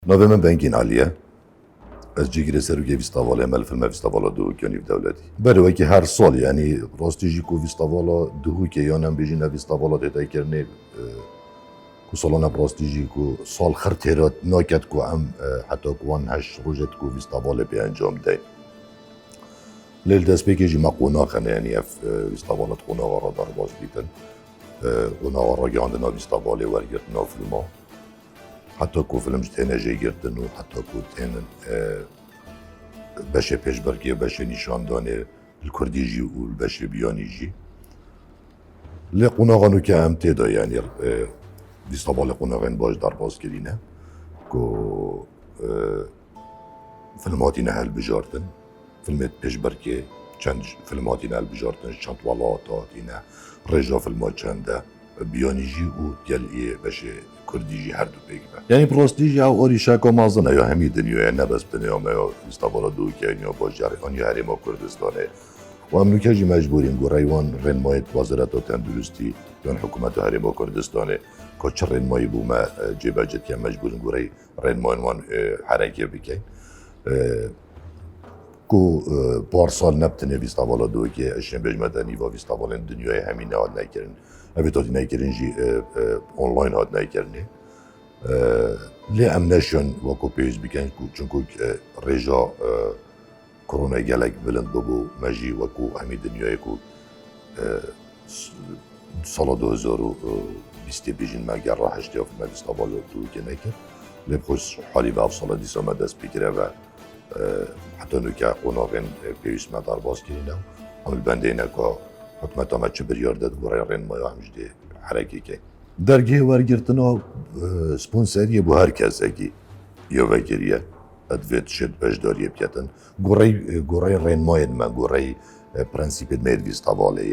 Navê min Bengîn Elî ye. Ez cîgirê serokê Vîstavalê ye me li filma Vîstavala Duhûk ya Nîv Dewletî. Berê wekî her sal yanî rastî jî ku Vîstavala Duhûkê yan em bêjîn ev Vîstavala tê taykirinê ku salan e bi rastî jî ku sal xir tê re naket ku em heta ku wan heşt rojê di ku Vîstavalê pê encam deyn. Lê li destpêkê jî me qonaxe ne yanî ev Vîstavala di qonaxa re derbas dîtin. Qonaxa ragihandina Vîstavalê wergirtina filma. Heta ku film ji têne jêgirtin û heta ku tênin beşê pêşberkê, beşê nîşandanê li kurdî jî û li beşê biyanî jî. Lê qonaxa nû ke em tê de yanî dîsa balê qonaxên baş derbas kirîne ku Film hatîne hilbijartin, filmê di pêşberkê çend film hatîne hilbijartin, ji çend welat hatîne, rêj a filma çend e, biyanî jî û gel ê beşê kurdî jî her du pêk be. Yanî bi rastî jî ew erîşeka mezin e ya hemî dinyayê ne bes binêya me ya Îstebala Dûkê an ya bajarê an ya herêma Kurdistanê û em nûke jî mecbûr in goreyê wan rênmayê di Wezareta Tenduristî yan hikûmeta herêma Kurdistanê ka çi rênmayî bo me cêbecd kin mecbûr in goreyê rênmayên wan herekê bike ku parsal ne bi tenê vîstavala doyekê ez jê bêjme de nîva vîstavalên dinyayê hemî nehat nekirin. Evê tatî nekirin jî online hat nekirinê. Lê em neşon weko pêwîst bikin ku çunku rêja Korone gelek bilind bûbû me jî wek û hemî dinyayê ku sala du hezar û bîstê pêş jin me ger ra heştê afê me dîsta balo tûrikê nekir lê bi xwes halî me ev sala dîsa me dest pê kire ve heta nûke qonaxên pêwîst me derbas kirîne û em li bendeyne ka hikûmeta me çi biryar de di goreyê rênimaya em ji dê herekê ke. Dergehê wergirtina sponseriyê bo her kesekî ya vekirî ye. Di vê tişê di beşdariyê biketin gorey gorey rênmayên me, gorey prensîpên me yê divîst hevalê.